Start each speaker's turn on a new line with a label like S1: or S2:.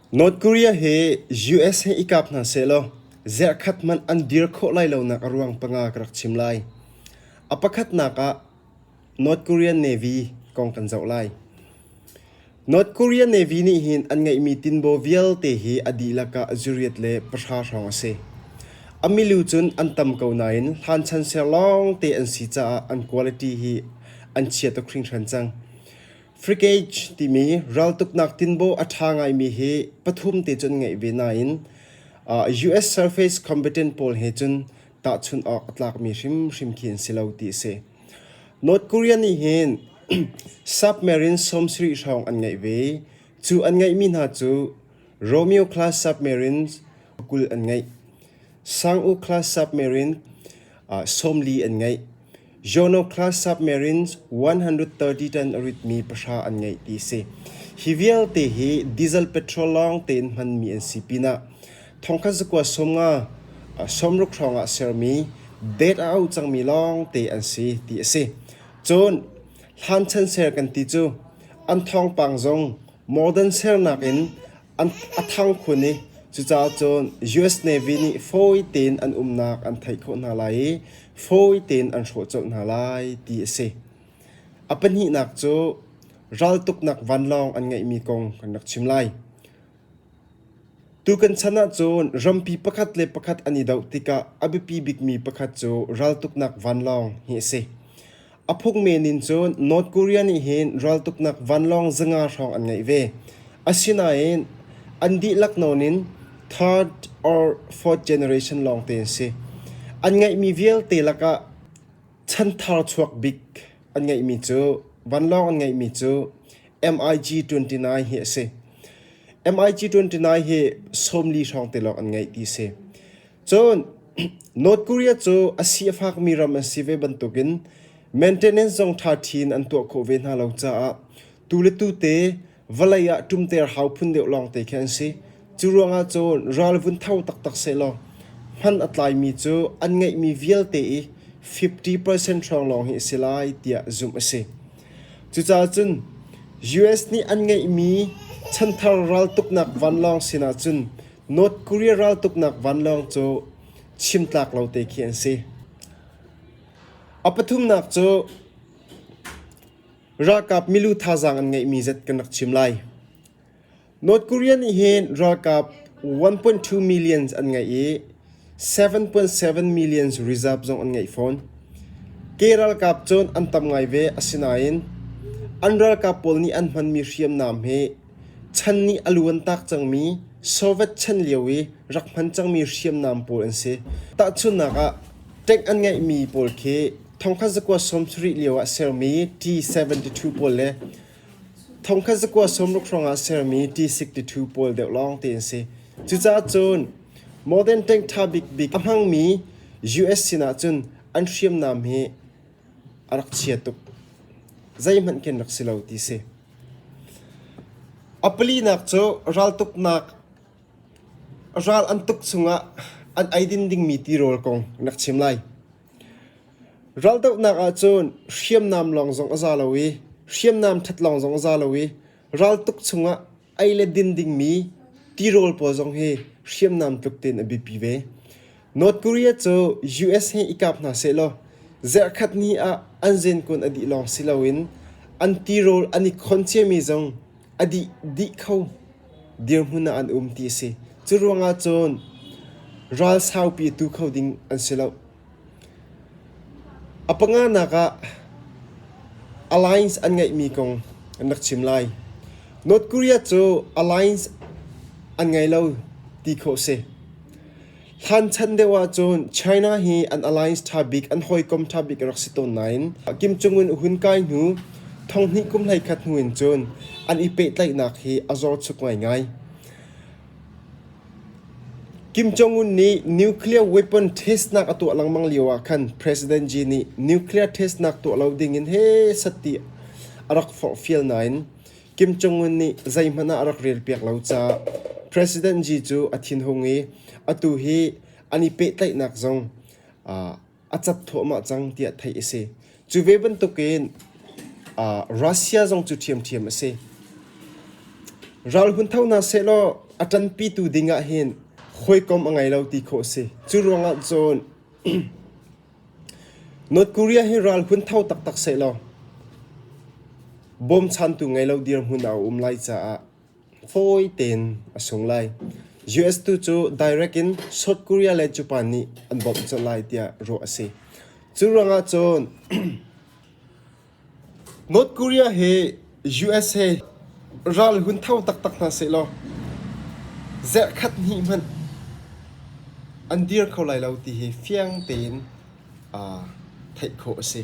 S1: North Korea hi USA i kap hna sehlaw zerhkhat hmanh an dir khawh lai lonak a ruang panga ka rak chim lai. A pakhatnak ah North Korean Navy kong kan zoh lai. North Korea Navy nih hin an ngeihmi tinbaw vialte hi a dihlak ah zuriat le pahra hrawng a si. A milu cun an tam ko nain hlanchan ser lawngte an si caah an quality hi an chia tuk hringhran cang. Frigage timi raltuknak tinbaw a ṭha ngaimi hi pathum te cun ngeih ve nain uh, US surface combatant pawl he cun tahchunh awk a tlakmi hrimhrim khi an si lo ti a si. North Korea nih hin submarine sawmsarih hrawng an ngeih ve. Cu an ngeihmi hna cu Romeo class submarines kul an ngeih. Sang-u class submarine uh, sawmli an ngeih. Zonoclast submarines 130 ton a ritmi pahra an ngeih ti a si. Hi vialte hi diesel petrol lawng tein hmanmi an si pinah thongkhat zakua sawm nga sawmruk hrawngah sermi date a au cangmi lawngte an si ti a si. Cun hlan chan ser kan ti cu an thawngpang zong modern sernak in a thang khun i cucaah cun US Navy nih fawi tein an umnak an theih khawh hna lai i fawi tein an hrawh colh hna lai ti a si. A pahnihnak cu raltuknak vanlawng an ngeihmi kong kan rak chim lai. Tukan chan ah cun rampi pakhat le pakhat an i doh tikah a biapi bikmi pakhat cu raltuknak vanlawng hi a si. A phungmen in cun North Korea nih hin raltuknak vanlawng zanga hrawng an ngeih ve. Asinain an dihlak nawn in third or fourth generation lawngte an si. An ngeihmi vialte lakah chanthar chuak bik an ngeihmi cu vanlawng an ngeihmi cu MiG 29 hi a si. MiG 29 hi sawmli hrawng te lawng an ngeih ti a si. Cun North Korea cu a si a fakmi ram an si ve bantukin maintenance zong ṭha ṭhi in an tuah khawh ve hna lo caah tu le tute vawlei ah ṭumter hau phun deuh lawng te khi an si. Cu ruangah cun ralvun tho taktak sehlaw hman a tlaimi cu an ngeihmi vialte i 50 percent hrawng lawng hi a si lai tiah zumh a si. Cucaah cun US nih an ngeihmi chanthar raltuknak vanlawng sinah cun North Korea raltuknak vanlawng cu chimtlak lo te khi an si. A pathumnak cu ralkap milu thazaang an ngeihmi zet kan rak chim lai. North Korea nih hin ralkap 1.2 million an ngeih i 7.7 million reserve zong an ngeih fawn. Ke ralkap cun an tam ngai ve, asinain an ralkap pawl nih an hmanmi hriamnam hi chan nih a lu an taak cangmi Soviet chan lio i rak hman cangmi hriamnam pawl an si. Tahchunhnak ah, tank an ngeihmi pawl khi thongkhat zakua sawmsarih lio ah sermi T-72 pawl le Thongkhat zakua sawmruk hrawngah a sermi tisik tithu pawl deuh lawng te an si. Cucaah cun modern tank ṭha bikbik a hmangmi US sinah cun an hriamnam hi a rak chia tuk. Zeihmanh kan rak si lo ti si. A palinak cu raltuknak, ral an tuk chungah an eidin dingmi tirawl kong in rak chim lai. Raldohnak ahcun hriamnam lawng zong a za lo i hriamnam ṭhat lawng zong a za lo i raltuk chungah ei le din dingmi tirawl pawl zong hi hriamnam tluk tein a biapi ve. North Korea cu US he i kap hna sehlaw zarhkhat ni ah an zenkun a dih lawng si loin an tirawl an i khon ciami zong a dih dih kho. dirhmun ah an um ti a si. Curuangah cun ral saupi tu kho ding an si lo. A panganak ah alliance an ngeihmi kong an rak chim lai. North Korea cu alliance an ngei lo ti khawh si. Hlan chan deuh ahcun China hi an alliance ṭha bik, an hawikom ṭha bik rak si tawn nain Kim Jong Un a hun kai hnu thonghnih kum hleikhat hnu in cun an i pehtlaihnak hi a zorchuk ngaingai. Kim Jong Un nih nuclear weapon testnak a tuah lengmang lio ah khan President Xi nih nuclear testnak tuah lo ding in he sat ti a rak forhfial nain Kim Jong Un nih zeihmanh ah a rak relpiak lo caah President Xi cu a thinhung i atu hi an i pehtlaihnak zong uh, a cap thuahmah cang tiah theih a si. Cu ve bantukin uh, Russia zong cu ṭhiamṭhiam a si. Ral hun tho na sehlaw a ṭanpitu ding ah hin hawikom a ngei lo ti khawh a si. Cu ruangah cun North Korea hi ral hun tho taktak sehlaw bawmchantu ngei lo dirhmun ah a um lai caah fawi tein a sung lai. US tu cu direct in South Korea le Japan nih an bawmh colh lai tiah ruah a si. Cu ruangah cun North Korea hi USA ral hun tho taktak hna sehlaw zarh khat hnih hmanh an dir kho lai lo ti hi fiang tein aa theih khawh a si.